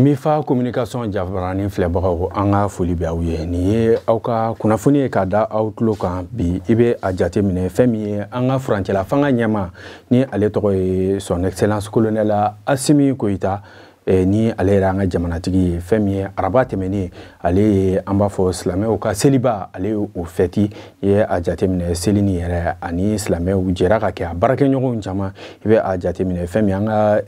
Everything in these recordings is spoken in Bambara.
mifa communication jabarani filɛbagaw an ka foli bɛ aw ye nin ye aw ka kunnafoni ye ka da aw tulo kan bi i bɛ a jate minɛ fɛn min ye an ka furancɛla fanga ɲɛmaa ni ale tɔgɔ ye son excellence colonel asimi goyita eh, ni ale yɛrɛ an ka jamanatigi ye fɛn min ye araba tɛmɛnen ale ye an b'a fɔ silamɛw ka seliba ale ye o fɛti i ye a jateminɛ seli nin yɛrɛ ani silamɛw jɛra ka kɛ a baarakɛɲɔgɔnw caman i bɛ a jateminɛ fɛn min an ka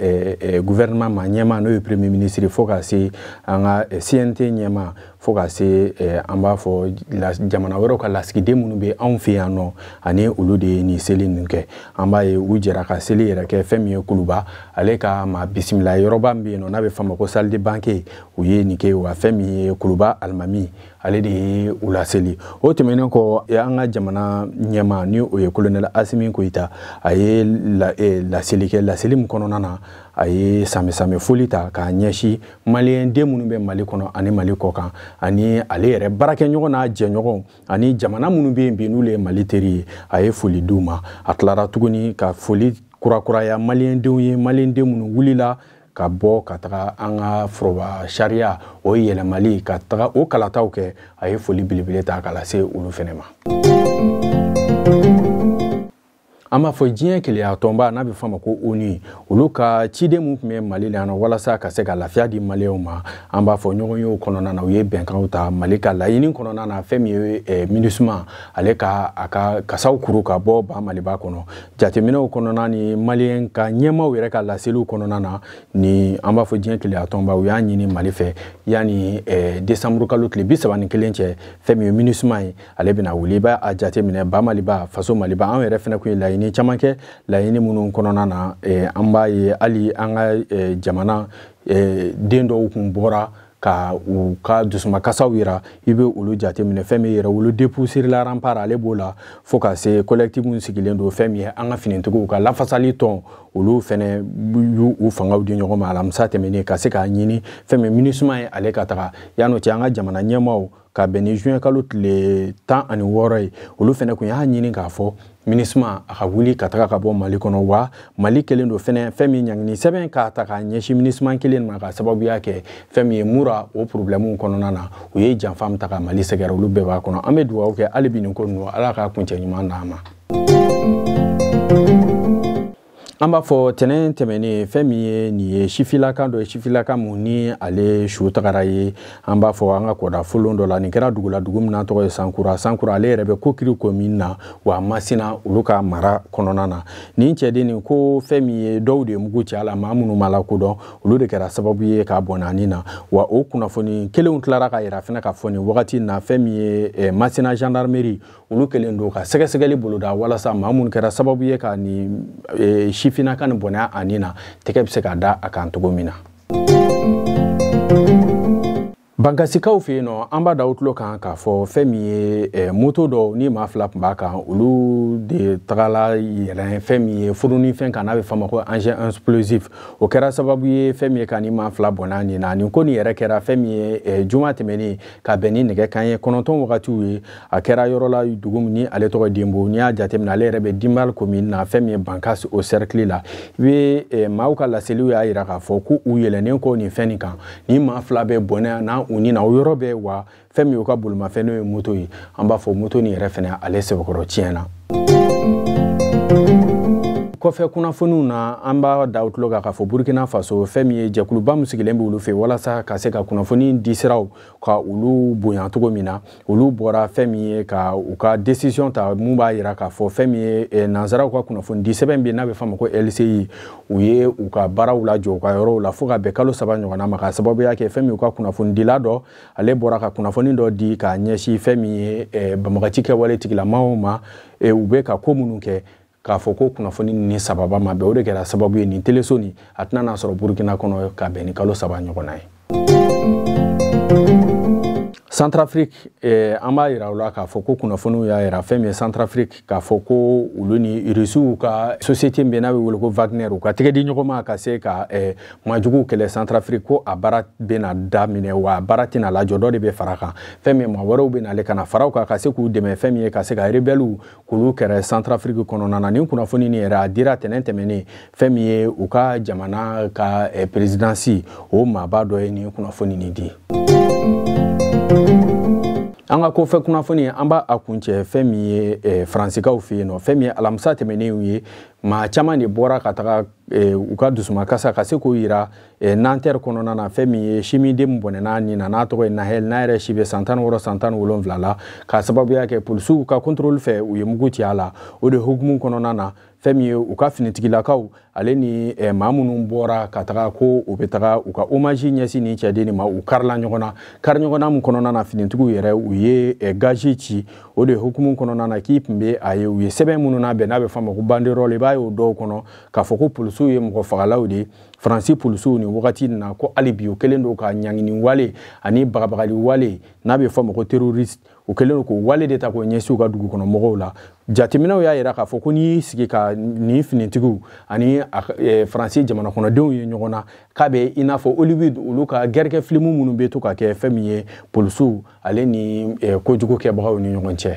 guvɛrɛnɛman ma ɲɛmaa n'o ye premier minisiri fo ka se an ka cnt ɲɛmaa fo ka se an b'a fɔ jamana wɛrɛw ka lasigiden minnu bɛ anw fɛ yan nɔ ani olu de ye nin seli ninnu kɛ an b'a ye u jɛra ka seli yɛrɛ kɛ fɛn min ye kuluba ale ka maa bisimila yɔrɔba min bɛ yen nɔ n'a bɛ f'a ma ko salle de banquet u ye nin kɛ wa fɛn min ye kuluba alimami ale de ye u laseli o tɛmɛnen kɔ an ka jamana ɲɛmaa ni o ye kolonɛli asimi goyita a ye e, laseli kɛ laseli min kɔnɔna na a ye sanbɛsanbɛ foli ta k'a ɲɛsin maliyɛn den minnu bɛ mali kɔnɔ ani mali kɔ kan ani ale yɛrɛ baarakɛɲɔgɔn n'a jɛɲɔgɔn ani jamana minnu bɛ yen bi n'olu ye mali teri ye a ye foli di u ma a tilara tuguni ka foli kurakuraya maliyɛndenw ye maliyɛnden minnu wulila ka bɔ ka taga an ka foroba sariya o yɛlɛmali ka taga o kalataw kɛ a ye foli belebele ta ka lase olu fɛnɛ ma an b'a fɔ diɲɛ kelenya tɔnba n'a bɛ fɔ a ma ko onu olu ka ciden min tun bɛ mali la yan nɔ walasa ka se ka lafiya di maliyɛnw ma an b'a fɔ ɲɔgɔnyew kɔnɔna na u ye bɛnkanw ta mali ka laɲini kɔnɔna na fɛn min ye eh, minusima ale ka a ka kasaw kuru ka bɔ ba maliba kɔnɔ jateminɛw kɔnɔna ni maliyɛn ka ɲɛmaaw yɛrɛ ka laseliw kɔnɔna na ni an b'a fɔ diɲɛ kelenya tɔnba u y'a ɲini mali fɛ yanni eh, desanburu kalo tile bi saba ni kelen cɛ fɛn min ye minusima ye ale bɛna wuli i b'a a jateminɛ ba maliba faso maliba an yɛrɛ fɛnɛ kun ye laɲini caman kɛ laɲini minnu kɔnɔna na eh, an b'a ye hali an ka eh, jamana eh, den dɔw kun bɔra ka u ka dusumakasaw yira i bɛ olu jateminɛ fɛn min ye yɛrɛwolo debout sur les remparts ale b'o la fo ka se kolɛkitifu min sigilen don fɛn min ye an ka finitigiw ka lafasali tɔn olu fɛnɛ y'u u fangaw di ɲɔgɔn ma alamisa tɛmɛnen ka se k'a ɲini fɛn min minusima ye ale ka taga yan'o cɛ an ka jamana ɲɛmaaw ka bɛn ni juin kalo tile tan ani wɔɔrɔ ye olu fɛnɛ kun y'a ɲini k'a fɔ minusima a ka wuli ka taga ka bɔ mali kɔnɔ wa mali kelen don fɛnɛ fɛn min ye ɲangini sɛbɛn k'a ta k'a ɲɛsin minusima kelen ma ka sababuya kɛ fɛn min ye mura o porobilɛmuw kɔnɔna na u ye janfa min ta ka mali sɛgɛrɛ olu bɛɛ b'a kɔnɔ an bɛ dugawu kɛ hali bi nin ko ninnu ala ka kuncɛ ɲuman d'an ma an b'a fɔ tɛnɛn tɛmɛnen fɛn min ye nin ye sifilaka dɔ ye sifilaka mun ni ale su tagara ye an b'a fɔ an ka kɔda folon dɔ la nin kɛra dugu la dugu min n'a tɔgɔ ye sankura sankura ale yɛrɛ bɛ kokiri komin na wa a masina olu ka mara kɔnɔna na nin cɛden nin ko fɛn min ye dɔw de ye mugu ci a la maa minnu ma lakodɔn olu de kɛra sababu ye k'a bɔnɛ a ni na wa o kunnafoni kelenw tilara k'a yira fana k'a fɔ nin wagati na fɛn min ye eh, masina gendarmerie olu kɛlen don ka sɛgɛsɛgɛli boloda walasa maa minnu kɛra sababu ye ka nin e, sifilaka nin bɔnɛ a ni na tɛgɛ bɛ se ka da a kan cogo min na bankasikaw fɛ yen nɔ an b'a da u tulo kan k'a fɔ fɛn min ye e, moto dɔ ni maa fila tun b'a kan olu de tagala yɛlɛn fɛn min ye furunifɛn kan n'a bɛ f'a ma ko engin explosif o kɛra sababu ye fɛn min ye ka nin maa fila bɔnɛ u ni na nin ko nin yɛrɛ kɛra fɛn min ye e, juma tɛmɛnen ka bɛn ni nɛgɛ kanɲɛ kɔnɔntɔn wagatiw ye a kɛra yɔrɔ la dugu min ni ale tɔgɔ denbo n'i y'a jateminɛ ale yɛrɛ bɛ dimbal komin na fɛn min ye bankas o sɛrikili la i bɛ eh, maaw ka laseliw y'a yira k'a fɔ ko u yɛlɛnnen kɔ nin fɛn nin kan nin maa fila bɛɛ bɔnɛna u ni na o yɔrɔ bɛɛ wa fɛn min y'u ka bolimafɛn n'o ye moto ye an b'a fɔ moto nin yɛrɛ fɛnɛ ale sɛbɛkɔrɔ tiɲɛna kɔfɛ kunnafoniw na an b'a da u tulo kan k'a fɔ burkina faso fɛn min ye jɛkuluba min sigilen bɛ olu fɛ walasa ka se ka kunnafoni di siraw ka olu bonya cogo min na olu bɔra fɛn min ye ka u ka décision ta mun b'a yira k'a fɔ fɛn min ye eh, nansaraw ka kunnafoni di sɛbɛn bɛ n'a bɛ f'a ma ko LCI u ye u ka baaraw lajɔ u ka yɔrɔw la fo ka bɛn kalo saba ɲɔgɔnna ma k'a sababuya kɛ fɛn min u ka kunnafonidila dɔ ale bɔra ka kunnafoni dɔ di k'a ɲɛsin fɛn min ye eh, banbagaci kɛwale tigilamaw ma eh, u bɛ ka ko minnu kɛ k'a fɔ ko kunnafoni nin sababa ma bɛn o de kɛra sababu ye nin teleso nin a tɛna na sɔrɔ burukina kɔnɔ ka bɛn ni kalo saba ɲɔgɔnna ye centrafrique eh, an b'a yira u la k'a fɔ ko kunnafoniw y'a yira fɛn min ye centrafrique k'a fɔ ko olu ni rusiw ka société min bɛ n'a bɛ wele ko wagner u ka tɛgɛ di ɲɔgɔn ma ka se ka eh, majuguw kɛlɛ centrafrique ko a baara bɛna daminɛ wa a baara tɛna lajɔ dɔ de bɛ fara a kan fɛn min maa wɛrɛw bɛ n'ale ka na fara u kan ka se k'u dɛmɛ fɛn min ye ka se ka rebɛliw k'olu kɛlɛ santarafiriki kɔnɔna na nin kunnafoni nin yɛrɛ a dira tɛnɛn tɛmɛnen fɛn min ye u ka jamana ka eh, perezidansi o maaba dɔ ye nin kunnafoni nin di an ka kɔfɛ kunnafoni an b'a kuncɛ fɛn min ye eh, faransikaw fɛ yen nɔ fɛn min ye alamisa tɛmɛnen ye maa caman de bɔra ka taga eh, u ka dusumakasa ka se k'o yira e, nanter kɔnɔna na fɛn min ye simiden min bɔnɛna ni na n'a tɔgɔ ye nahɛl n'a yɛrɛ si bɛ san tan wɔɔrɔ san tan wolonwula la k'a sababuya kɛ polisiw ka kɔntoroli fɛ u ye mugu ci a la o de hukumu kɔnɔna na fɛn min ye u ka finitigilakaw ale ni eh, maa minnu bɔra ka taga ko u bɛ taga u ka omaji ɲɛsin nin cɛden nin ma u karila ɲɔgɔn na kari ɲɔgɔn na min kɔnɔna na finitigiw yɛrɛ u ye eh, gazi ci o de hukumu kɔnɔna na k'i tun bɛ a ye u ye sɛbɛn minnu labɛn n'a bɛ fɔ a ma ko banderɔl i b'a ye o dɔw kɔnɔ k'a fɔ ko polisiw ye mɔgɔ fagalaw de ye faransi polisiw nin wagati in na ko hali bi u kɛlen don ka ɲangini wale ani bagabagali wale n'a bɛ fɔ a ma ko terroriste u kɛlen don k'o wale de ta k'o ɲɛsin u ka dugu kɔnɔ mɔgɔw la jateminɛw y'a yira k'a fɔ ko n'i y'i sigi ka nin finitigiw ani e, faransi jamanakɔnɔdenw ye ɲɔgɔn na k'a bɛ i n'a fɔ hollywood olu ka gɛrɛkɛ filimu minnu bɛ to ka kɛ fɛn min ye polisiw ale ni e, kojugu kɛbagaw ni ɲɔgɔn cɛ